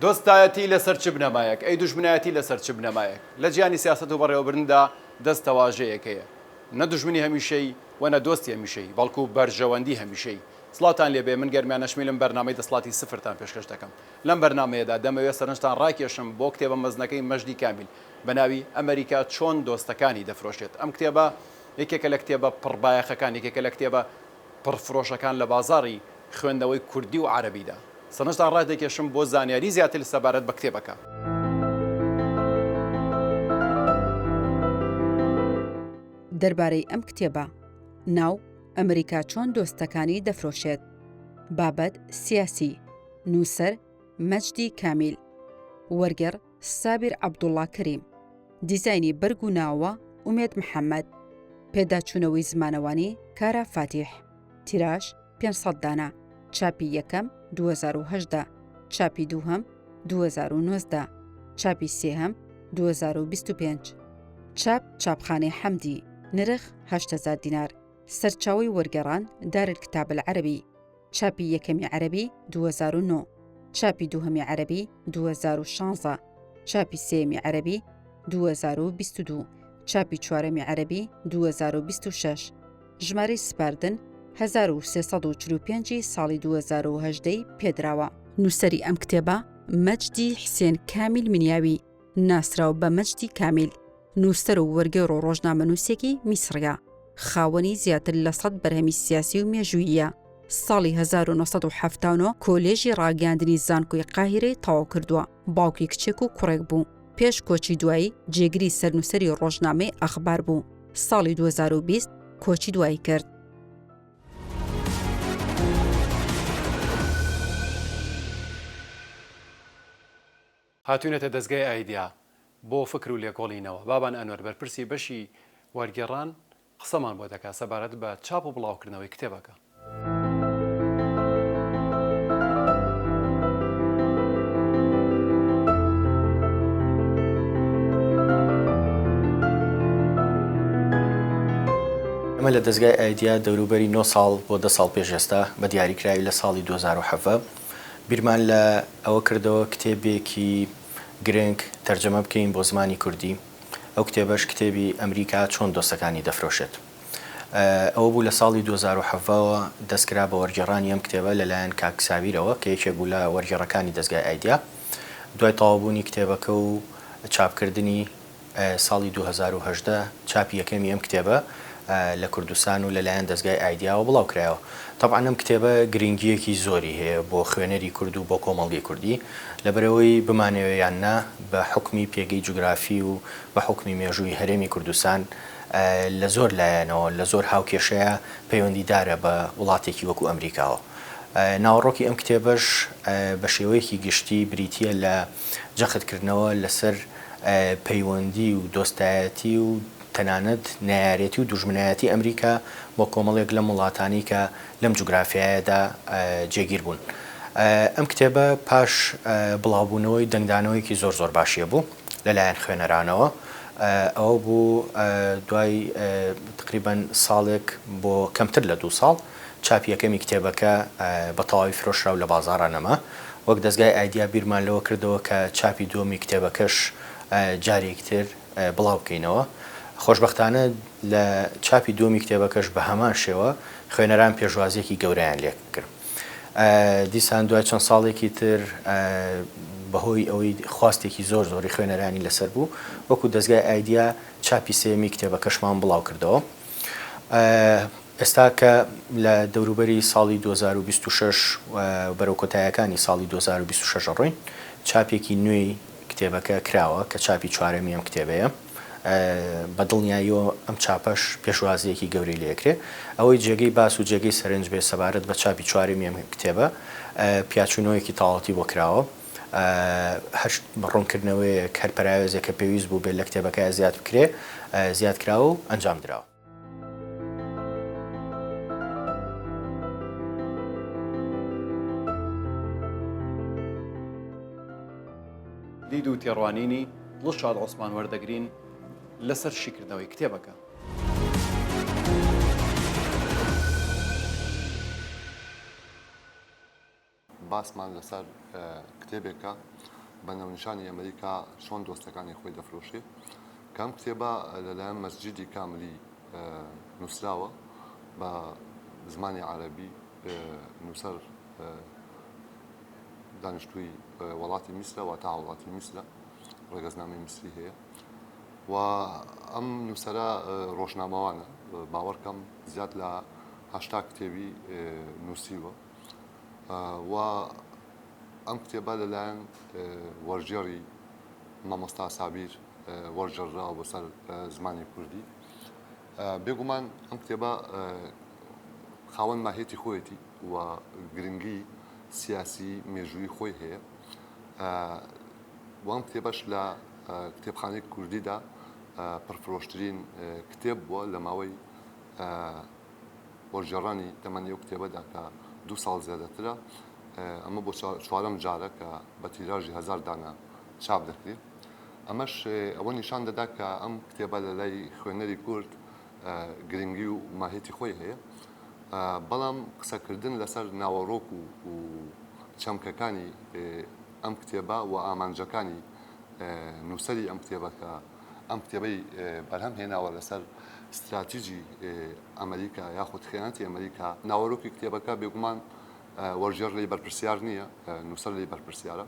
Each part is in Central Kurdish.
دۆستایەتی لەسەر چ بنەمایەک؟ ئەی دوژمنایەتی لەسەر چ بنەمایەک؟ لە جیهانی سیاسەت و بەڕێوەبردندا دەست تەواژەیەک هەیە. نە دوژمنی هەمیشەیی و نە دۆستی هەمیشەیی، بەڵکو بەرژەوەندی هەمیشەیی. سڵاوتان لێبێ، من گەرمیان نەشمیلم، بەرنامەی دەسڵاتی سفرتان پێشکەش دەکەم. لەم بەرنامەیەدا دەمەوێت سەرنجتان ڕاکێشم بۆ کتێبە مەزنەکەی مەجدی کامیل بە ناوی ئەمەریکا چۆن دۆستەکانی دەفرۆشێت ئەم کتێبە یەکێکە لە کتێبە پڕ بایەخەکان یەکێکە لە کتێبە پڕ فرۆشەکان لە بازاڕی خوێندنەوەی کوردی و عەرەبیدا سەرنجتان ڕادەکێشم بۆ زانیاری زیاتر سەبارەت بە کتێبەکە. دەربارەی ئەم کتێبە، ناو، ئەمەریکا چۆن دۆستەکانی دەفرۆشێت. بابەت، سیاسی. نووسەر، مەجدی کامیل. وەرگێڕ، سابیر عەبدوڵڵا کەریم. دیزاینی بەرگ و ناوە، ئومێد محەممەد. پێداچوونەوەی زمانەوانی، کارا فاتیح. تیراژ، پێنج سەد دانە. چاپی یەکەم، دوو هەزار و هەژدە. چاپی دووهەم، دوو هەزار و نۆزدە. چاپی سێهەم، دوو هەزار و بیست و پێنج. چاپ، چاپخانەی حەمدی. نرخ، هەشت هەزار دینار. سەرچاوەی وەرگێڕان، دارالکتاب العربی. چاپی یەکەمی عەرەبی دوو هەزار و نۆ، چاپی دووهەمی عەرەبی دوو هەزار و شانزە، چاپی سێیەمی عەرەبی دوو هەزار و بیست و دوو، چاپی چوارەمی عەرەبی دوو هەزار و بیست و شەش، ژمارەی سپاردن هەزار و سێ سەد و چل و پێنج ی ساڵی دوو هەزار و هەژدە ی پێدراوە. نووسەری ئەم کتێبە، مەجدی حسێن کامیل منیاوی، ناسراو بە مەجدی کامیل، نووسەر و وەرگێڕ و ڕۆژنامەنووسێکی میسڕییە، خاوەنی زیاتر لە سەد بەرهەمی سیاسی و مێژووییە، ساڵی هەزار و نۆ سەد و حەفتا و نۆ کۆلێژی ڕاگەیاندنی زانکۆی قاهیرەی تەواو کردووە، باوکی کچێک و کوڕێک بوو، پێش کۆچی دوایی جێگری سەرنووسەری ڕۆژنامەی ئەخبار بوو، ساڵی دوو هەزار و بیست کۆچی دوایی کرد. هاتوینەتە دەزگای ئایدیا بۆ فکر و لێکۆڵینەوە، بابان ئەنوەر بەرپرسی بەشی وەرگێڕان قسەمان بۆ دەکات سەبارەت بە چاپ و بڵاوکردنەوەی کتێبەکە. ئێمە لە دەزگای ئایدیا دەوروبەری نۆ ساڵ بۆ دە ساڵ پێش ئێستا بە دیاری کراوی لە ساڵی دوو هەزار و حەڤدە بیرمان لە ئەوە کردەوە کتێبێکی گرنگ تەرجەمە بکەین بۆ زمانی کوردی، ئەو کتێبەش کتێبی ئەمریکا چۆن دۆستەکانی دەفرۆشێت ەوە بوو، لە ساڵی دوو هەزار و حەڤدە وە دەست کرا بە وەرگێڕانی ئەم کتێبە لە لایەن کاک سابیرەوە کە یەکێک بوو لە وەرگێڕەکانی دەزگای ئایدیا، دوای تەواوبوونی کتێبەکە و چاپکردنی، ساڵی دوو هەزار و هەژدە چاپی یەکەمی ئەم کتێبە لە کوردستان و لەلایەن دەزگای ئایدیاوە بڵاو کرایەوە. تەبعەن ئەم کتێبە گرینگییەکی زۆری هەیە بۆ خوێنەری کورد و بۆ کۆمەڵگەی کوردی. لەبەرئەوەی بمانەوێ یان نا بە حوکمی پێگەی جوگرافی و بە حوکمی مێژووی هەرێمی کوردستان لە زۆر لایەنەوە، لە زۆر هاوکێشەیە پەیوەندیدارە بە وڵاتێکی وەکوو ئەمریکاوە. ناوەڕۆکی ئەم کتێبەش بە شێوەیەکی گشتی بریتییە لە. جەختکردنەوە لەسەر پەیوەندی و دۆستایەتی و تەنانەت نەیارێتی و دوژمنایەتی ئەمریکا بۆ کۆمەڵێک لەم وڵاتانەی کە لەم جوگرافیایەدا جێگیر بوون. ئەم کتێبە پاش بڵاوبوونەوەی دەنگدانەوەیەکی زۆر زۆر باشی هەبوو لەلایەن خوێنەرانەوە. ئەوە بوو دوای تقریبەن ساڵێک بۆ کەمتر لە دوو ساڵ. چاپی یەکەمی کتێبەکە بە تەواوی فرۆشرا و لە بازاڕا نەما. وەک دەزگای ئایدیا بیرمان لەوە کردەوە کە چاپی دووەمی کتێبەکەش جارێکی تر بڵاو بکەینەوە. خۆشبەختانە لە چاپی دووەمی کتێبەکەش بە هەمان شێوە خوێنەران پێشوازییەکی گەورەیان لێ کرد. دیسان دوای چەند ساڵێکی تر بە هۆی ئەوەی خواستێکی زۆر زۆری خوێنەرانی لە سەر بوو، وەکو دەزگای ئایدیا چاپی سێیەمی کتێبەکەشمان بڵاو کردەوە. ئێستا کە لە دەوروبەری ساڵی دوو هەزار و بیست و شەش و بەرەو کۆتایەکانی ساڵی دوو هەزار و بیست و شەش ئەڕۆین، چاپێکی نوێی کتێبەکە کراوە کە چاپی چوارەمی ئەم کتێبەیە. بە دڵنیاییەوە ئەم چاپەش پێشوازییەکی گەورەی لێ ئەکرێ. ئەوەی جێگەی باس و جێگەی سەرنج بێ سەبارەت بە چاپی چوارەمی ئەم کتێبە، پیاچوونەوەیەکی تاڵتی بۆ کراوە. هەشت، ڕوونکردنەوەیەک، هەر پەراوێزێک کە پێویست بوو بێت لە کتێبەکە زیاد بکرێ، زیاد کراوە و ئەنجام دراوە. دید و تێڕوانینی دڵشاد عوسمان وەردەگرین لەسەر شیکردنەوەی کتێبەکە. باسمان لەسەر کتێبێکە بە ناونیشانی ئەمریکا چۆن دۆستەکانی خۆی دەفرۆشێ کە ئەم کتێبە لەلایەن مەسجیدی کاملی نووسراوە بە زمانی عەرەبی نووسەر دانیشتووی وڵاتی میسرە وا تا وڵاتی میسرە ڕێگەزنامەی میسری هەیە و ئەم نووسرە ڕۆژنامەوانە باوەڕکەم زیاد لە هشتا کتێوی نووسیوە و ئەم کتێبە لەلایەن وەرگێڕی مامۆستا سابیر وەرگێڕراوە بەسەر زمانی کوردی بێگومان ئەم کتێبە خاوەن ماهێتی خۆیەتی و گرنگی سیاسی مێژووی خۆی هەیە وام کتێبەش لە کتێبخانەی کوردیدا پڕفرۆشترین کتێب بووە لە ماوەی بۆ گێڕانی تەمەنی ئەو کتێبەدا کە دوو ساڵ زیادەترە، ئەمە بۆ چوارەم جارە کە بە تیراژی هەزار دانە چاپ دەکرێت. ئەمەش ئەوە نیشان دەدات کە ئەم کتێبە لە لای خوێنەری کورد گرنگی و ماهیەتی خۆی هەیە. بەڵام قسەکردن لەسەر ناوەڕۆک و چەمکەکانی ئەم کتێبە و ئامانجەکانی نووسەری ئەم کتێبە کە ئەم کتێبەی بەرهەم هێناوە لەسەر ستراتیجی ئەمریکا یاخود خیانەتی ئەمریکا ناوەرۆکی کتێبەکە بێگومان وەرجێر لی بەرپرسیار نییە نووسەر لی بەرپرسیارە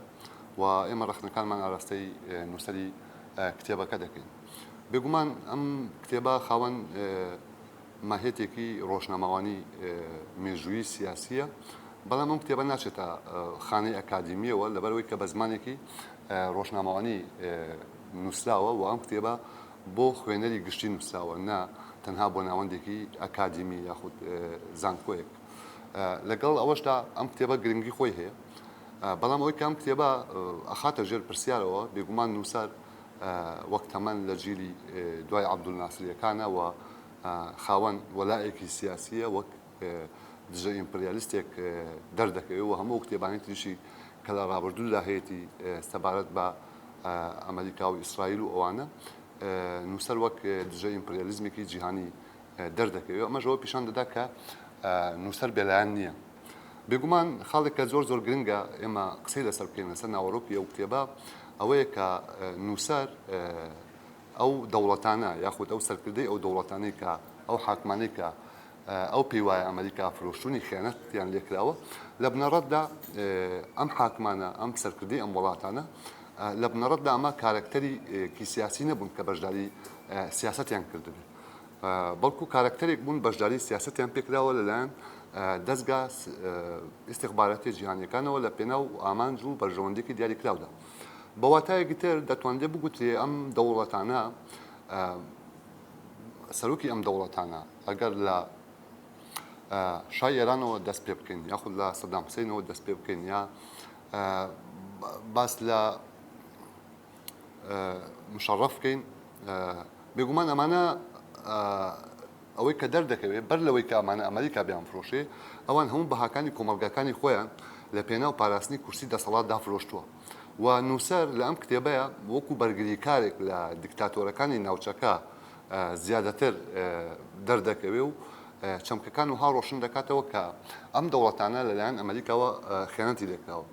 و ئێمە ڕخنەکانمان ئاراستەی نووسری کتێبەکە دەکەین بێگومان ئەم کتێبە خاوەن ماهێتێکی ڕۆژنامەوانی مێژووی سیاسیە بەڵام ئەم کتێبە ناچێتە خانەی ئەکادمیەوە لەبەرەوەی کە بە زمانێکی ڕۆژنامەوانی نووسراوە و ئەم کتێبە بۆ خوێنەری گشتی نووسراوە نا تەنها بۆ ناوەندێکی ئەکادیمی یاخود زانکۆیەک لەگەڵ ئەوەشدا ئەم کتێبە گرنگی خۆی هەیە بەڵام ئەوەی کەم کتێبە ئەخاتە ژێر پرسیارەوە بێگومان نووسەر وەک تەمەن لە جیلی دوای عبدول ناسریەکانەوە خاوەن وەلایەکی سیاسیە وەک دژە ئیمپریالیستێک دەردەکەوێت و هەموو کتێبانی تریشی کە لە ڕابردوودا هەیەی سەبارەت بە ئەمریکا و ئیسرائیل و ئەوانە نووسەر وەک دژە ئیمپریالیزمێکی جیهانی دەردەکەوێت ئەمەژەوە پیشان دەدا کە نووسەر بێلایەن نییە بێگومان خاڵێک کە زۆر زۆر گرنگە ئێمە قسەی لەسەر بکەین لەسەر ناوەڕۆکی ئەو کتێبە ئەوەیە کە نووسەر ئەو دەوڵەتانە یاخود ئەو سەرکردەی ئەو دەوڵەتانەی کە ئەو حاکمانەی کە ئەو پێی وایە ئەمەریکا فرۆشتوونی خیانەتیان لێکراوە، لە بنەڕەتدا ئەم حاکمانە، ئەم سەرکردەی ئەم وڵاتانە لە بنەڕەتدا ئەمە کارەکتەری کی سیاسی نەبوون کە بەشداری سیاسەتیان کردبێت، بەڵکو کارەکتەرێک بوون بەشداری سیاسەتیان پێکراوە لەلایەن دەزگا ئیستیخباراتیە جیهانیەکانەوە لە پێناو ئامانج و بەرژەوەندێکی دیاریکراودا. بە واتایەکی تر دەتوانرێت بگوترێ ئەم دەوڵەتانە، سەرۆکی ئەم دەوڵەتانە، ئەگەر لە شای ئێرانەوە دەست پێ بکەین یاخود لە سەدام حسینەوە دەست پێ بکەین یا باس لە مشەڕەف بکەین بێگومان ئەمانە ئەوەی کە دەردەکەوێت بەر لەوەی کە ئەمانە ئەمریکا بیان فرۆشێ ئەوان هەموو بەهاکانی کۆمەلگاکانی خۆیان لە پێناو پاراستنی کورسی دەسەڵات دافرۆشتووە و نووسەر لە ئەم کتێبەیە وەکو بەرگریکارێک لە دیکتاتۆرەکانی ناوچەکە زیادەتر دەردەکەوێ و چەمکەکان وەها ڕۆشن دەکاتەوە کە ئەم دەوڵەتانە لەلایەن ئەمەریکاوە خیانەتی لێکراوە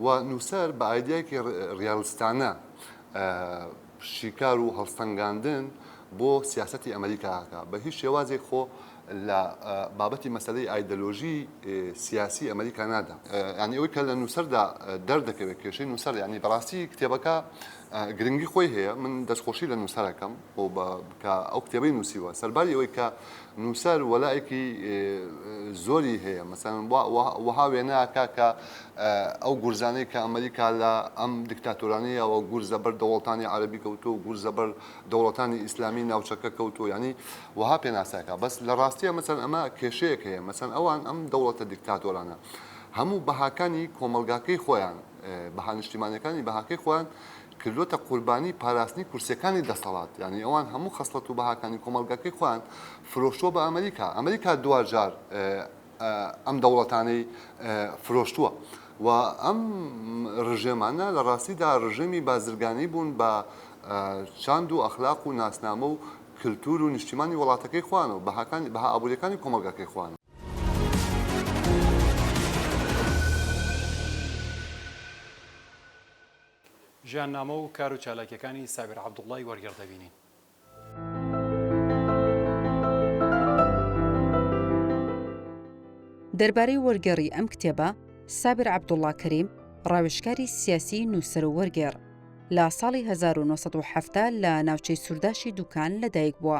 و نووسەر بە ئایدیایەکی ڕیالستانە شیکار و هەڵسەنگاندن بۆ سیاستی ئەمریکاکە بە هیچ شێوازێک خۆ لە بابەتی مەسلەی ئایدەلۆژی سیاسی ئەمریکا نادا ینی ئەوی کە لە نووسەردا دەردەکەوێت کێشەی نووسەر ینی بەڕاستی کتێبەکە گرنگی خۆی هەیە من دەستخۆشی لە نووسەر ئەکەم بۆ بە کە ئەو کتێبەی نووسیوە سەرباری ئەوەی کە نووسەر وەلایەکی زۆری هەیە مەسەن وەها وێناکە کە ئەو گورزانەی کە ئەمریکا لە ئەم دکتاتۆرانەیەوە گورزە بەر دەوڵەتانی عربی کەوتو و گورزە بەر دەوڵەتانی ئیسلامی ناوچەکە کەوتو ینی وەها پێناساکە بەس لە ڕاستیە مەسەن ئەمە کێشەیەک هەیە مەسەن ئەوان ئەم دەوڵەتە دکتاتۆرانە هەموو بەهاکانی کۆمەلگاکەی خۆیان بەها نیشتیمانیەکانی بەهاکەی خۆیان کردوەتە قوربانی پاراستنی کورسیەکانی دەسەڵات یعنی ئەوان هەموو خەسڵەت و بەهاکانی کۆمەڵگەکەی خۆیان فرۆشتووە بە ئەمریکا ئەمریکا دواجار ئەم دەوڵەتانەی فرۆشتووە و ئەم ڕژێمانە لە ڕاستیدا ڕژێمی بازرگانی بوون بە چاند و ئەخلاق و ناسنامە و کللتور و نیشتیمانی وڵاتەکەی خوانەوە بەهاکانی بەها ئابووریەکانی کۆمەلگاکەی خوان ژیاننامە و کار و چالاکیەکانی سابیر عەبدوڵڵای وەرگێڕ دەبینین. دەربارەی وەرگێڕی ئەم کتێبە سابر عبدوڵا کەریم ڕاوشکاری سیاسی نووسەر و وەرگێڕ لە ساڵی 1970 لە ناوچەی سوورداشی دوکان لەدایک بووە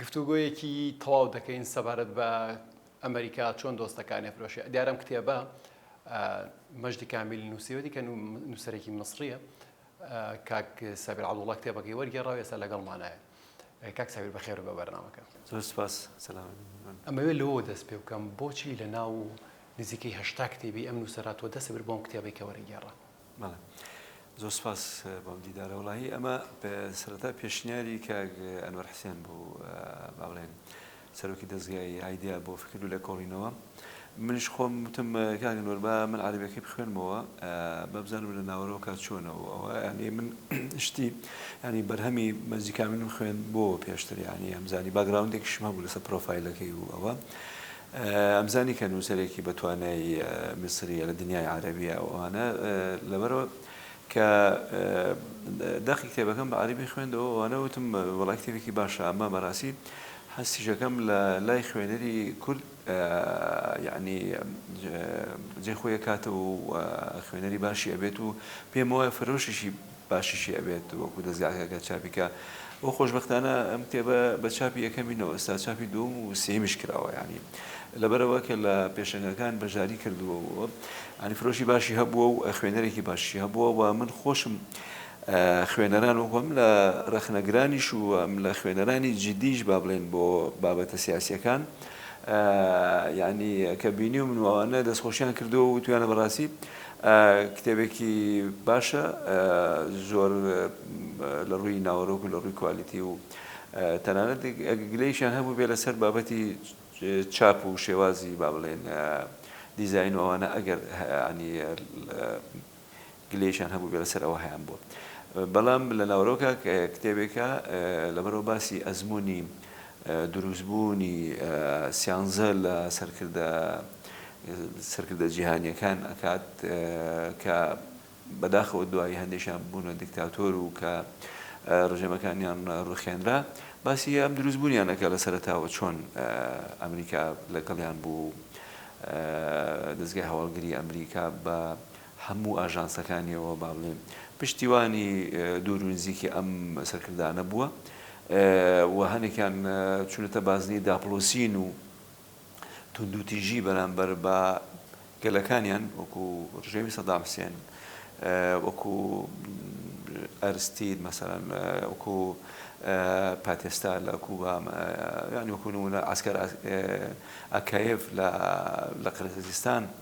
گفتوگۆیەکی تەواو دەکەین سەبارەت بە ئەمریکا چۆن دۆستەکانی فرۆشی دیارم کتێبە مەجدی کامیلی نووسیوەتی کە نووسەرێکی مسریە کاک سەبر عبدوڵە کتێبەکەی وەرگێڕاو ێستا لەگەڵمانایە کاک سەبیر بەخێر بە بەرنامەکە زۆر سپاس سلام ئەمەوێت لەوە دەست پێ بکەم بۆچی لە ناو نزیکەی هەشتا کتێبی ئەم نووسەرە تۆ دەست برد بۆ ئەم کتێبەی کە وەرگێڕا. بەڵێ زۆر سوپاس بۆم دیدارە وەڵاهی ئەمە سەرەتا پێشنیاری کاک ئەنوەر حسێن بوو با بڵێن سەرۆکی دەزگای ئایدیا بۆ فکر و لێکۆڵینەوە منیش خۆم وتم کاک ئەنوەر با من عەرەبیەکەی بخوێنمەوە با بزانم لە ناوەرۆکە چۆنە و ئەوە یعنی من شتی یعنی بەرهەمی مەجدی کامیلم خوێندبووەوە پێشتر یعنی ئەمزانی باگراوندێکیشم هەبوو لەسەر پرۆفایلەکەی و ئەوە ئەمزانی کە نووسەرێکی بە توانای میسرییە لە دنیای عەرەبی و ئەوانە لەبەرئەوە کە دەقی کتێبەکەم بە عەرەبی خوێندەوە ئەوانە وتم وەڵای کتێبێکی باشە ئەمە بەڕاستی حەسیشەکەم لە لای خوێنەری کورد یعنی جێ خۆیە کاتە و خوێنەری باشی ئەبێت و پێم وایە فرۆشیشی باشیشی ئەبێت وەکو دەزگاکەکە چاپی کا و خۆشبەختانە ئەم کتێبە بە چاپی یەکەمی نەوە ئێستا چاپی دووەم و سێمیش کراوە یانی لەبەرەوە کە لە پێشەنگەکان بەشداری کردووە و ئەنی فرۆشی باشی هەبووە و خوێنەرێکی باشی هەبووە و من خۆشم خوێنەران وەکوم لە ڕەخنەگرانیش و لە خوێنەرانی جدیش با بڵێن بۆ بابەتە سیاسیەکان یعنی کە بینی و منواوانە دەستخۆشیان کردو و تویانە بەڕاستی کتێبێکی باشە زۆر لە ڕووی ناوەرۆک و لە ڕووی کوالیتی و تەنانەت ئەگە گلەیشیان هەبوو بێ لەسەر بابەتی چاپ و شێوازی با بڵێن دیزین و ئەوانە ئەگەر ینی گلەیشان هەبوو بێ لەسەر ئەوە هەیان بووە بەڵام لە ناوەرۆکە کتێبێکە لەبەرەوە باسی ئەزمموی دروستبوونی سیانزە لە سەرکردە سەرکردە جیهانیەکان ئەکات کە بەداخەوە دوایی هەندێکیان بوونە دیکتاتۆر و کە ڕژێمەکانیان ڕوخێنرا باسی ئەم دروستبوونیان ئەکا لە سەرەتاوە چۆن ئەمریکا لەگەڵیان بوو دەزگای هەواڵگری ئەمریکا بە هەموو ئاژانسەکانیەوە با بڵێین پشتیوانی دوور و نزیکی ئەم سەرکردانە بووە و هەنێکیان چونەتە بازنەی داپڵۆسین و توندوتیژی بەرامبەر بە گەلەکانیان وەکو ڕژێمی سەدام حسێن وەکو ئەرستید مەسەرەن وەکو پاتێستا لە کوبا ینی وەکو نمونە ئاسکەر ئەکایف لە قرقزستان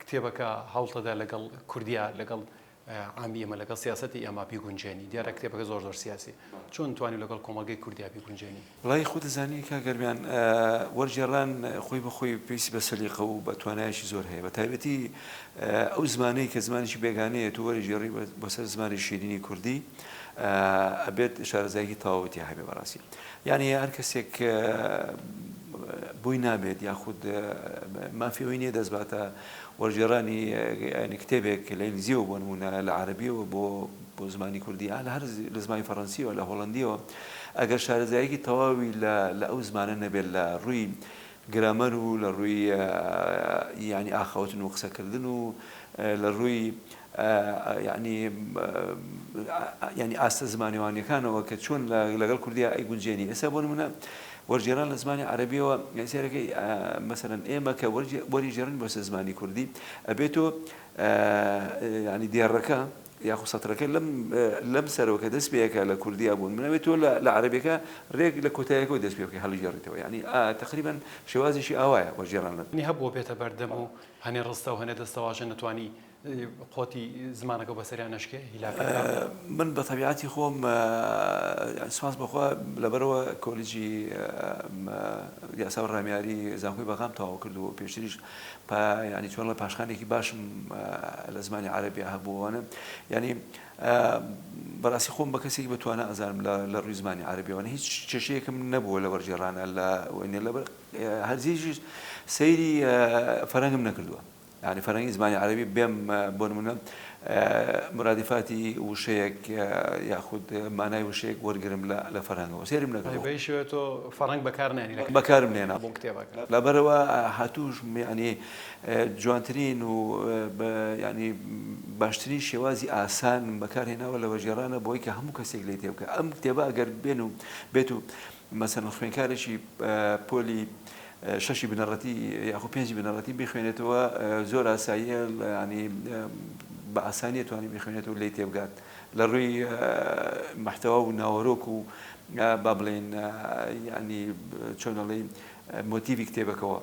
کتێبەکە هەڵتەدا لەگەڵ کوردیا لەگەڵ عامی ئێمە لەگەڵ سیاسەتی ئێمە بیگونجێنی دیارە کتێبەکە زۆر زۆر سیاسی چۆن توانی لەگەڵ کۆمەڵگەی کوردیا بیگونجێنی وڵی خۆ دەزانی کاک گەرمیان وەرگێڕان خۆی بە خۆی پێویستی بە سەلیقە و بە توانایەکی زۆر هەیە بە تایبەتی ئەو زمانەی کە زمانیی بێگانەیە تو وەرگێڕی بۆ سەر زمانی شیرینی کوردی ئەبێت شارەزاییەکی تەواوی تیا هەبێ بەڕاستی یانی هەر کەسێک بۆی نابێت یاخود مافی ئەوی نییە دەست باتە وەرگێڕانی یانی کتێبێک لە ئینگلیزیەوە بۆ نمونە لە عەربیەوە بۆ بۆ زمانی کوردی ئا لە هەر لە زمانی فەڕەنسیەوە لە هۆڵندیەوە ئەگەر شارەزایەکی تەواوی لە لە ئەو زمانە نەبێت لە ڕووی گرامەر و لە ڕووی یانی ئاخاوتن و قسە کردن و لە ڕووی یانی یانی ئاستە زمانەوانیەکانەوە کە چۆن لەگەڵ کوردیا ئەی گونجێنی ئێستا بۆ نمونە وەرجێران لە زمانی عربیەوە سێرەکەی مەسەرەن ئێمە کە وەری ژێرن بۆسە زمانی کوردی ئەبێتۆ ینی دێڕەکە یاخو سەترەکە لەم لەم سەرەوە کە دەست پێ ئەکا لە کوردیا بوون من ئەوێ تۆ لە لە عەرەبیەکە رێک لە کۆتایەکەوە دەست پێ بکەی هەڵیگێڕیتەوە یانی ئا تەقریبەن شێوازیشی ئاوایە وەرگێڕان لە. نی هەبووە بێتە بەردەم و هەنێ رستە و هەنێ دەستەواژە نەتوانی قۆتی زمانەکەو بەسەریا نەشکێ هیلاک ئەکا. من بە تەبیعەتی خۆم یانی سوپاس بە خوا لەبەرئەوە کۆلیجی یاسا و رامیاری زانکۆی بەغام تەواو کردووە و پێشتریش پا یانی چۆن ڵێ پاشخانێکی باشم لە زمانی عەرەبیا هەبوو وانە یانی بەڕاستی خۆم بە کەسێکی بە توانا ئەزانم لە ڕووی زمانی عەرەبیەوەە هیچ کێشەیەکم نەبووە لە وەرجێڕانە لە وێنێ لە هەرزیش سەیری فەرەنگم نەکردووە یعنی فەرەنگی زمانی عەرەبی بێم بۆ نمونە مرادفاتی وشەیەک یاخود مانای وشەیەک وەرگرم لە فەرهەنگەوە سەیرم نەکردووە. بەهیچ شێوەیەک تۆ فەڕەنگ بەکار ناهێنی لە بەکارم نەهێناوە بۆ کتێبەکە. لەبەرئەوە هاتووش یانی جوانترین و یانی باشترین شێوازی ئاسان بەکارهێناوە لە وەرگێڕانە بۆ ئەوەی کە هەموو کەسێک لێی تێبگات. ئەم کتێبە ئەگەر بێن و بێت و مەسەلەن خوێندکارێکی پۆلی شەشی بنەڕەتی یاخۆ پێنجی بنەڕەتی بیخوێنێتەوە زۆر ئاساییە ینی بە ئاسانیە توانی بیخوێنێتەوە لی تێبگات لە ڕووی محتەوا و ناوەرۆک و با بڵێن ینی چۆنەڵی مۆتیڤی کتێبەکەوە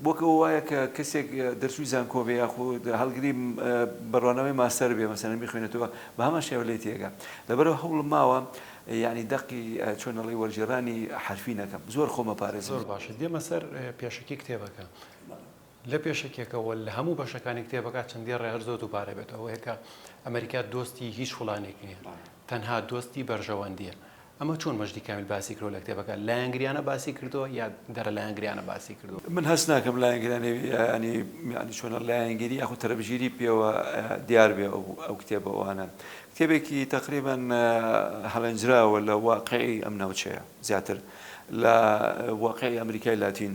وەک ئەوە وایە کە کەسێک دەرچووی زانکۆ بێ یاخود هەڵگری بڕوانەوەی ماستەر بێ مەسەرەن بخوێنێتەوە بە هەمان شێوە لێ تێگە لەبەرەوە هەوڵم ماوە ینی دەقی چۆنەڵی وەرجێڕانی حرفی نەکەم زۆر خۆمە پارێز زۆر باشە دێمە سەر پێشکی کتێبەکە. لە پێشەکیەکەوە لە هەموو بەشەکانی کتێبەکە چەندی ڕێ هەر زۆر دووبارە بێت ئەوەیە کە ئەمەریکا دۆستی هیچ فڵانێک نییە تەنها دۆستی بەرژەوەندیە ئەمە چۆن مەجدی کامیل باسی کردوە لە کتێبەکە لایەنگریانە باسی کردوە یا دەرە لایەنگریانە باسی کردوە؟ من هەست ناکەم لایەنگرانی ینی ینی چۆنە لایەنگری یاخود تەرەبژیری پێوە دیار بێ ئەو ئەو کتێبەوانە کتێبێکی تەقریبەن هەڵێنجراوە لە واقعی ئەم ناوچەیە زیاتر لە واقعی ئەمریکای لاتین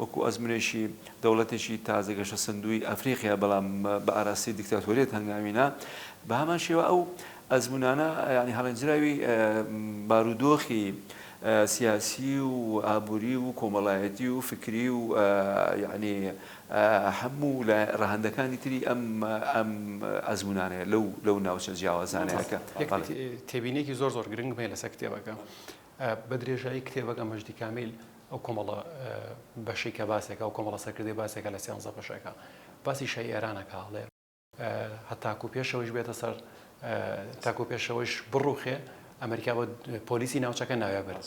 وەکو ئەزمونێکی دەوڵەتێکی تازە گەشەسەندووی ئەفریقیا بەڵام بە ئاراستەی دیکتاتۆریەت هەنگاوینە، بە هەمان شێوە ئەو ئەزمونانە یانی هەڵێنجراوی بارودۆخی سیاسی و ئابوری و کۆمەڵایەتی و فکری و یانی هەموو ڕەهەندەکانی تری ئەم ئەزمونانەیە لەو ناوچە جیاوازانەیە. تێبینێکی زۆر زۆر گرنگم هەیە لەسەر کتێبەکە. بە درێژایی کتێبەکە مەجدی کامیل ئەو کۆمەڵە بەشەی کە باسێکە ئەو کۆمەڵە سەرکردەی باسێکە لە سێانزە بەشەکە باسی شای ئێرانەکە هەڵێ هەتاکو و پێشەوەیش بێتە سەر تاکو پێشەوەیش بڕوخێ ئەمریکا بە پۆلیسی ناوچەکە ناوێ برد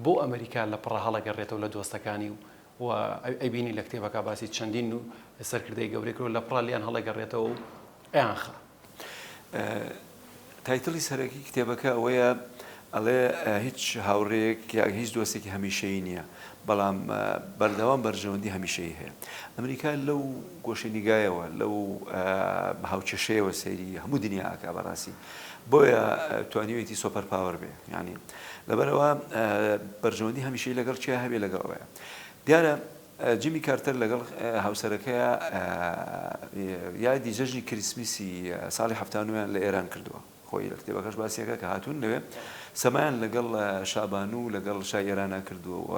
بۆ ئەمریکا لە پڕە هەڵەگەڕێتەوە لە دۆستەکانی و و ئەبینی لە کتێبەکە باسی چەندین و سەرکردەی گەورەکرۆ لە پڕالیان هەڵەگەڕێتەوە و ئەیانخا. تایتڵی سەرەکی کتێبەکە ئەوەیە ئەڵێ هیچ هاوڕێیەک یا هیچ دۆستێکی هەمیشەیی نییە، بەڵام بەردەوام بەرژەوەندی هەمیشەیی هەیە. ئەمریکا لەو گۆشەنیگایەوە، لەو هاوکێشەیەوە سەیری هەموو دنیا ئەکا بەڕاستی. بۆیە توانیویەتی سۆپەر پاوەر بێ. یانی لەبەرئەوە بەرژەوەندی هەمیشەیی لەگەڵ کێ هەبێ لەگەڵ ئەوەیە. دیارە. جیمی کارتەر لەگەڵ هاوسەرەکەیا یادی جەژنی کریسمیسی ساڵی حەفتا نۆیان لە ئێران کردووە، خۆی لە کتێبەکەش باسیەکا کە هاتوون لەوێ سەمایان لەگەڵ شابانوو و لەگەڵ شای ئێرانا کردووە و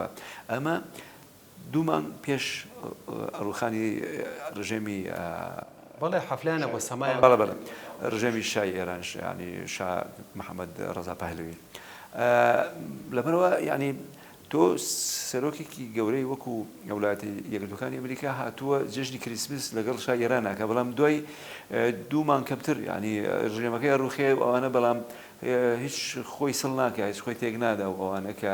ئەمە دوو مانگ پێش ڕووخانی ڕژێمی بەڵێ حەفلەیانە بۆ سەمایان بەڵێ بەڵێ ڕژێمی شای ئێرانش یانی شا محەمەد ڕەزا پەهلەوی لەبەرئەوە یانی تۆ سەرۆکێکی گەورەی وەکو وڵاتی یەکگرتوەکانی ئەمریکا هاتووە جەژنی کریسمس لەگەڵ شای ئێران ئەکا بەڵام دوای دوو مانگ کەمتر یانی ڕژێمەکەی ئەڕوخێ و ئەوانە بەڵام هیچ خۆی سڵ ناکا هیچ خۆی تێک نادا و ئەوانە کە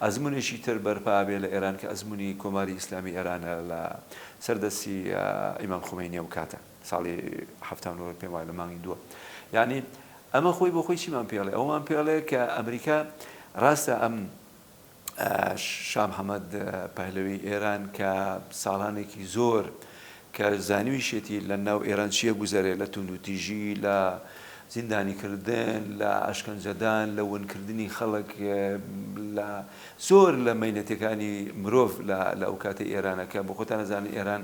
ئەزمونێکی تر بەرپا ئەبێ لە ئێران کە ئەزمونی کۆماری ئیسلامی ئێرانە لە سەر دەستی ئیمام خومەینی ئەو کاتە. ساڵی حەفتا و نۆ پێم وایە لە مانگی دووە یانی ئەمە خۆی بۆ خۆی چیمان پێ ئەڵێ ئەوەمان پێ ئەڵێ کە ئەمریکا ڕاستە ئەم شا محەمەد پەهلەوی ئێران کە ساڵانێکی زۆر کە زانیویشێتی لە ناو ئێران چیە گوزەرێ لە توندوتیژی لە زیندانیکردن لە ئەشکەنجەدان لە ونکردنی خەڵک لە زۆر لە مینەتەکانی مرۆڤ لە ئەو کاتی ئێرانەکە بۆ خۆتان نەزانن ئێران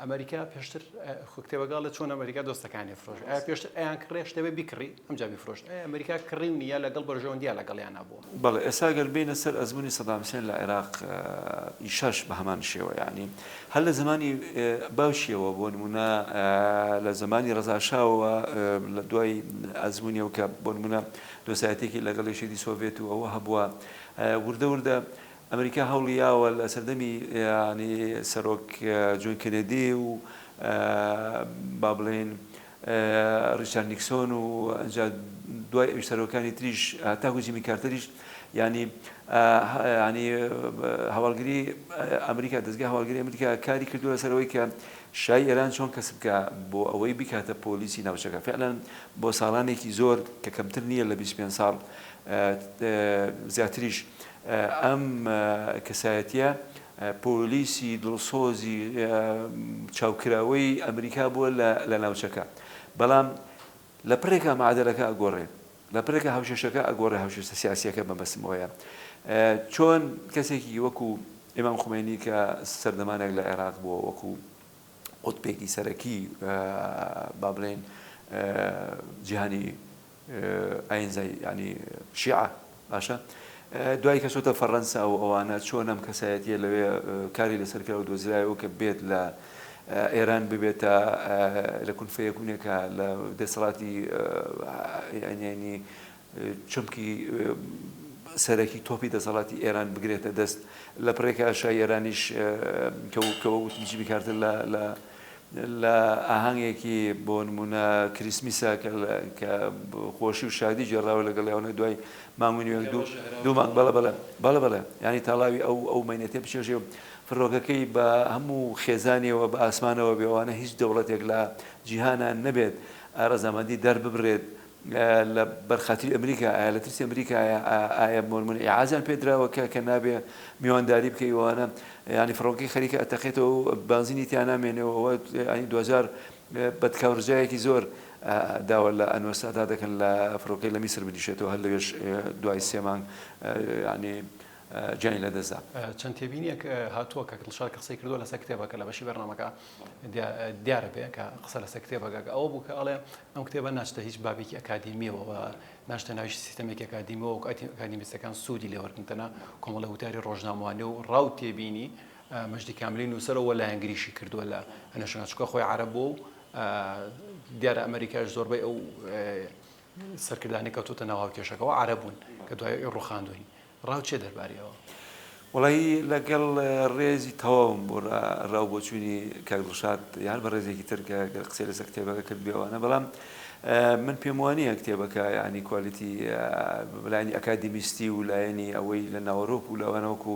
ئەمەریکا پێشتر خۆ کتێبەکە ئەڵێ چۆن ئەمەریکا دۆستەکانی فرۆشت ئایا پێشتر ئەیان کڕێ شتەوێ بیکڕی ئەمجا بیفرۆشت ئایا ئەمەریکا کڕیونی یا لەگەڵ بەرژەوەندییە لەگەڵیان هەبووە؟ بەڵێ ئێستا گەر بێینە سەر ئەزموونی سەدام حسێن لە عێراق یشش بە هەمان شێوە یانی هەر لە زەمانی باوکیەوە بۆ نموونە لە زەمانی ڕەزا شاوەوە لە دوای ئەزموونیەوە کە بۆ نموونە دۆستایەتیەکی لەگەڵ یەکێتی سۆڤێت و ئەوە هەبووە وردە وردە ئەمریکا هەوڵی یاوە لە سەردەمی یانی سەرۆک جۆن کێنێدی و با بڵێین ڕیچارد نیکسۆن و ئەنجا دوای ئەویش سەرۆکانی تریش هەتاکو جیمی کارتەریش یانی یانی هەواڵگری ئەمریکا دەستگای هەواڵگری ئەمریکا کاری کردووە لەسەرەوەی کە شای ئێران چۆن کەسب بکە بۆ ئەوەی بیکاتە پۆلیسی ناوچەکە فعلا بۆ ساڵانێکی زۆر کە کەمتر نییە لە بیست و پێنج ساڵ زیاتریش ئەم کەسایەتیە پۆلیسی دڵسۆزی چاوکراوەی ئەمریکا بووە لە ناوچەکە بەڵام لە پڕێکا معادەلەکە ئەگۆڕێ لە پرێکە هاوشێشەکە ئەگۆڕێ هاوشێشتە سیاسیەکە مەبەستم ئەوەیە چۆن کەسێکی وەکو ئیمام خومێنی کە سەردەمانێک لە عێراق بووە وەکو قوتبێکی سەرەکی با بڵێن جیهانی ئاینزای یانی شیعە باشە دوای کە چۆتە فەڕەنسا و ئەوانە چۆن ئەم کەسایەتیە لەوێ کاری لەسەر کرا و دۆزرایەوە کە بێت لە ئێران ببێتە لە کون فەیەکونێکە لە دەسەڵاتی یانی چمکی سەرەکی تۆپی دەسەڵاتی ئێران بگرێتە دەست لە پڕێکە شای ئێرانیش کە وتم جیمی کارتر لە لە ئاهەنگێکی بۆ نموونە کریسمیسە کە خۆشی و شادی گێڕاوە لەگەڵ یانە دوای مانگ و نیوێک دوو دوو مانگ بەڵە بەڵە بەڵە بەڵە یانی تاڵاوی ئەو ئەو مەینەتێ بچێژێ و فڕۆکەکەی بە هەموو خێزانیەوە بە ئاسمانەوە بێوانە هیچ دەوڵەتێک لە جیهانان نەبێت ڕەزامەندی دەرببرێت لە بەرخاتری ئەمریکا ئایا لە ترسی ئەمریکایە ئایا مۆرمن ئیعازیان پێ دراوە کە کە نابێ میوانداری بکەی وانە یانی فڕۆکەی خەریکە ئەتەقێتەوە و بانزینی تیا نامێنێەوە وە ئەنی دوجار بەدکاورجایەکی زۆر داوە لە ئەنوەر سادات دەکەن لە فڕۆکەی لە میسر بنیشێتەوە هەر لەوێش دوای سێ مانگ یانی گیانی لە دەست دا. چەند تێبینیەک هاتووە کاک دڵشاد کە قسەی کردووە لەسەر کتێبەکە لە بەشی بەرنامەکە دیارە بێ کە قسە لەسەر کتێبەکە ئەوە بوو کە ئەڵێ ئەم کتێبە ناچتە هیچ بابێکی ئەکادیمیەوە و ناچتە ناو هیچ سیستەمێکی ئەکادیمیەوە وەک ئەکادیمیستەکان سوودی لێ وەرگرن تەنها کۆمەڵە وتاری ڕۆژنامەوانی و ڕا و تێبینی مەجدی کاملی نووسەرەوە و لایەنگریشی کردووە لە ئەنەشەکان چونکە خۆی عەرەب بووە و دیارە ئەمەریکاش زۆربەی ئەو سەرکردانەی کەوتوتە ناو هاوکێشەکەەوە عەرەبوون کە دوای ڕوخاندوین ڕاو چیە دەرباری ئەوە؟ وەڵایی لەگەڵ ڕێزی تەواوم بۆ ڕا ڕاو بۆچوونی کاک دڵشاد یان بە ڕێزێکی تر کە گەر قسەی لەسەر کتێبەکە کردبێ وانە بەڵام من پێم وانییە کتێبەکە یانی کوالیتی لایەنی ئەکادیمیستی و لایەنی ئەوەی لە ناوەرۆک و لەوانە وەکو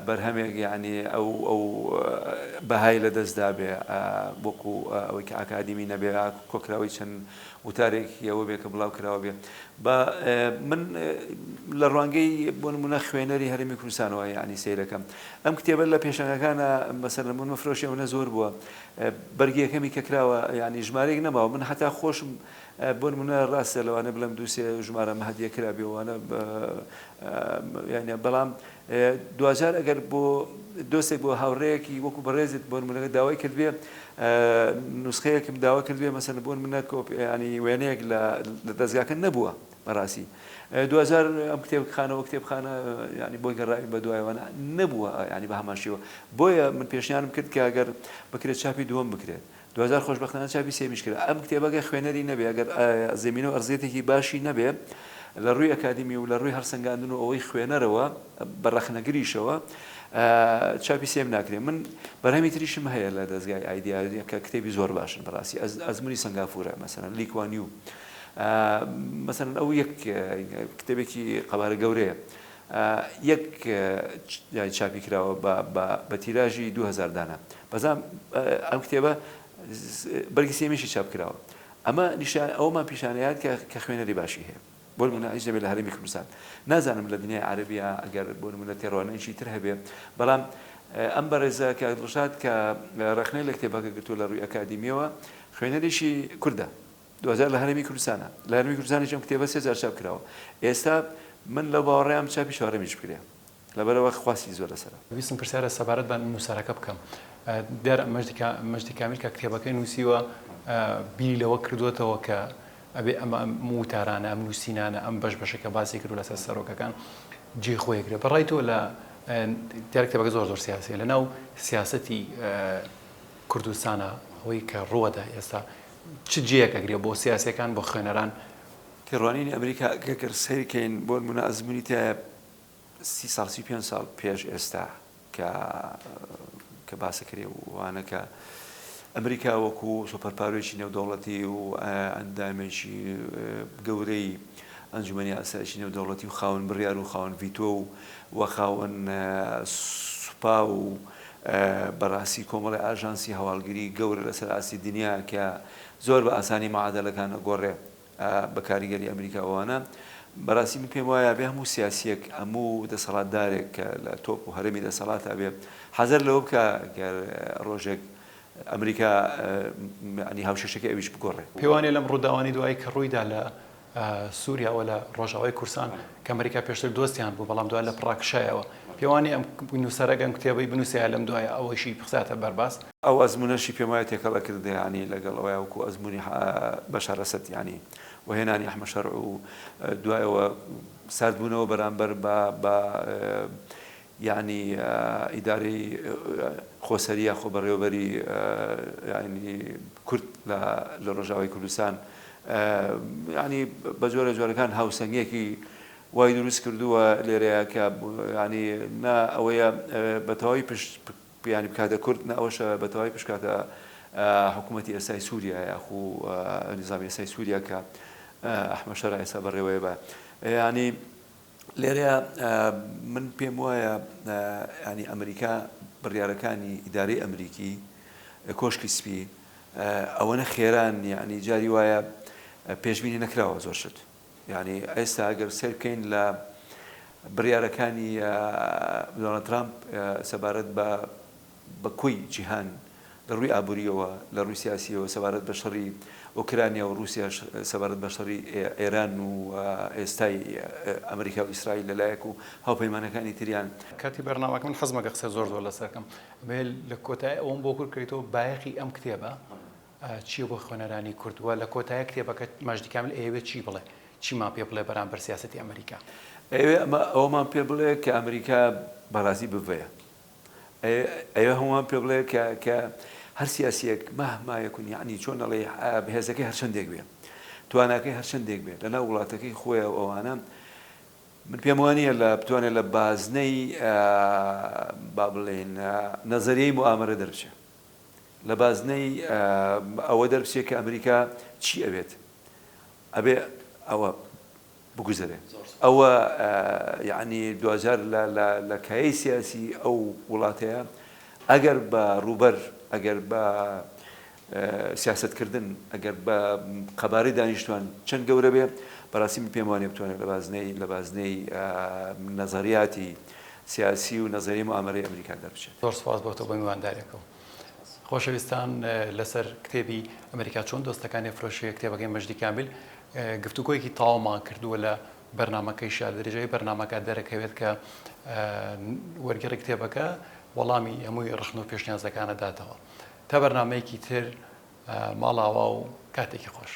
بەرهەمێک یانی ئەو ئەو بەهای لە دەستدا بێ وەکو ئەوەی کە ئاکادیمی نەبێ کۆکراوەی چەند وتارێکی ئەوە بێ کە بڵاو کراوە بێ با من لە ڕوانگەی بۆ نمونە خوێنەری هەرمی کوردستانەوە یعنی سیرەکەم ئەم کتێبە لە پێشەنگەکانە مەسەر لە من مەفرۆشی منە زۆر بووە بەرگیەکەمی کە کراوە ینی ژمارێک نەماوە من هەتا خۆشم بۆ منە ڕاستە لەوانە بڵم دووسێ ژمارە مەهدیە کرابێوانە یانە بەڵام دواجار ئەگەر بۆ دۆستێک بۆ هاوڕێیەکی وەکو بەڕێزت بۆ نمونە داوای کردبێ نوسخەیەکم داوا کردبێ مەسەن بۆن منە کۆپیانی وێنەیەک لە دەستگاکە نەبووە بەڕاستی دوجار ئەم کتێب خانەوە کتێب خانە ینی بۆی گەڕاوی بە دوایوانە نەبووە ینی بە هەماشیەوە بۆیە من پێشیانم کرد کە گەر بکرێت چاپی دووەم بکرێت دوجار خۆشبەختانە چاپی سێمیش کرا. ئەم کتێبە گەر خوێنەری نەبێ، گەر زەمینە و ئەرزیەتێکی باشی نەبێ لە ڕووی ئەکادیمی و لە ڕووی هەڵسەنگاندن و ئەوەی خوێنەرەوە بە ڕەخنەگریشەوە چاپی سێم ناکرێ. من بەرهەمی تریشم هەیە لە دەزگای ئایدیا کە کتێبی زۆر باشن بەڕاستی ئەزموونی سەنگافورە مەسەلەن لی کوان یو مەسەلەن ئەو یەک کتێبێکی قەبارە گەورەیە یەک جاری چاپی کراوە بە بە تیراژی دوو هەزار دانە بەزام ئەم کتێبە بەرگی سێمیشی چاپ کراوە ئەمە نیشان ئەومان پیشانەیات کە کە خوێنەری باشی هەیە بۆ نمونە ئیش دەبێت لە هەرێمی کوردستان نازانم لە دنیای عەرەبیا ئەگەر بۆ نمونە تێڕوانینێکی تر هەبێ بەڵام ئەم بەڕێزە کە دڵشاد کە ڕەخنەی لە کتێبەکە گرتووە لە ڕووی ئەکادیمیەوە خوێنەریشی کوردە دوجار لە هەرێمی کوردستانە. لە هەرێمی کوردستانیش ئەم کتێبە سێ جار چاپ کراوە. ئێستا من لەو باوەڕەیام چاپی چوارەمیش بکرێ. لەبەرئەوە خواستی زۆر لەسەرە. ویستم پرسیارە سەبارەت بە نووسەرەکە بکەم. دیارە مەجدی کامیل کە کتێبەکەی نووسیوە بیری لەوە کردووەتەوە کە ئەبێ ئەم وتارانە، ئەم نووسینانە، ئەم بەش بەشەی کە باسی کردووە لەسەر سەرۆکەکان جێی خۆی گرێ. بەڕای تۆ لە دیارە کتێبەکە زۆر زۆر سیاسییە. لەناو سیاسەتی کوردستانا ئەوەی کە ڕووەدا ئێستا چ جێیەک ئەگرێ بۆ سیاسیەکان بۆ خوێنەران؟ تێڕوانینی ئەمریکا گەگەر سەیر کەین بۆ نمونە ئەزمونی تایە سی ساڵ سی پێنج ساڵ پێش ئێستا کە کە باسە کرێ و وانە کە ئەمریکا وەکو سۆپەرپارۆیی نێودەوڵەتی و ئەندامێکی گەورەی ئەنجومی ئاسایشی نێودەوڵەتی و خاون بڕیار و خاون ڤیتۆ و وەخاون سوپا و بەڕاستی کۆمەڵێ ئاژانسی هەواڵگری گەورە لەسەر ئاستی دنیا کە زۆر بە ئاسانی مەعادەلەکان ئەگۆڕێ بە کاریگەری ئەمریکا ئەوانە بەڕاستی من پێم وایە بێ هەموو سیاسیەک هەموو دەسەڵاتدارێک کە لە تۆپ و هەرەمی دەسەڵاتا بێ حەزەر لەوە بکا گەر ڕۆژێک ئەمریکا یانی هاوشێشەکەی ئەویش بگۆڕێ. پێوانیە لەم ڕووداوانەی دوایی کە ڕوویدا لە سوریا و لە ڕۆژاوای کورسان کە ئەمریکا پێشتر دۆستیان بوو بەڵام دوای لە پڕا کشایەوە پێوانی ئەم نووسەرە گەم کتێبەی بنووسێ لەم دوایە ئەوەیشی بخزاتە بەرباس. ئەو ئەزموونەشی پێم وایە تێکەڵە کردگە یانی لەگەڵ ئەوەیا وەکوو ئەزموونی بەشار ئەسەد یانی و هێنانی ئەحمەد شەرع و دوایەوە ساردبوونەوە بەرامبەر بە یانی ئیدارەی خۆسەری یا خۆبەڕێوەبەری یانی کورد لە لە ڕۆژاوای کوردستان یانی بە جۆرە جۆرەکان هاوسەنگیەکی وای دروست کردووە لێرەیە کە یانی نا ئەوەیە بە تەواوی پشت پیانی بکاتە کورد نە ئەوەشە بە تەواوی پشکاتە حکوومەتتی ئێستای سووریا یاخو نیزامی ئێستای سووریا کە ئەحمە شەرع ئێستا بەڕێوەیە بە یانی لێرەیا من پێم وایە یانی ئەمریکا بڕیارەکانی ئیدارەی ئەمریکی کۆشکی سپی ئەوەنە خێران یعنی جاری وایە پێشبینی نەکراوە زۆر شت یعنی ئێستا ئەگەر سێر بکەین لە بڕیارەکانی دۆنالد ترامپ سەبارەت بە بە کۆی جیهان لە ڕووی ئابوورییەوە، لە ڕووی سیاسییەوە سەبارەت بە شەڕی ئۆکرانیا و ڕووسیاش سەبارەت بە شەڕی ئێران و ئێستای ئەمریکا و ئیسرائیل لە لایەک و هاوپەیمانەکانی تریان. کاتی بەرنامەکە من حەزمە کە قسە زۆر زۆر لەسەر کەم بێ لە کۆتای ئەوەم بۆ کورت کەیتەوە بایەخی ئەم کتێبە چیە بۆ خوێنەرانی کورد وە لە کۆتای کتێبەکە مەجدی کامل ئەیەوێ چی بڵێ چیمان پێ بڵێ بەرامبەر سیاسەتی ئەمریکا؟ ئەیەوێ ئەمە ئەوەمان پێ بڵێ کە ئەمریکا بەڕازی بڤەیە ئەوێ هەمووان پێ بڵێ کە کە هەر سیاسیەک مهما یکون یەعنی چۆن ئەڵێی هێزەکەی هەرچەندێک بێ تواناکەی هەرچەندێک بێ لە ناو وڵاتەکەی خۆیە و ئەوانە من پێم وانە لە بتوانێت لە بازنەی با بڵێن نەزەریەی موامرە دەربچێ لە بازنەی ئەوە دەربچێت کە ئەمریکا چی ئەوێت ئەبێ ئەوە بگوزەرێ ئەوە یەعنی دواجار لە کایەی سیاسی ئەو وڵاتەیە ئەگەر بە ڕووبەر ئەگەر بە سیاسەت کردن ئەگەر بە قەبارەی دانیشتوان چەند گەورە بێ بەڕاستی من پێم وانیە بتوانێت لە بازنەی لە بازنەی نەزەریاتی سیاسی و نەزەری موئامەرەی ئەمریکا دەربچێت. زۆر سوپاس بۆ تۆ بۆ میوانداریەکەوە. خۆشەویستان لەسەر کتێبی ئەمریکا چۆن دۆستەکانی ئەفرۆشێ کتێبەکەی مەجدی کامیل گفتوگۆیەکی تاومان کردووە لە بەرنمەکەی شار درێژەی بەرنمەکە دەرەکەوێت کە وەرگێڕی کتێبەکە وەڵامی هەمووی ڕخن و پێشنیازەکانە داتەوە تا بەرنمەیەکی تر ماڵاوا و کاتێکی خۆش.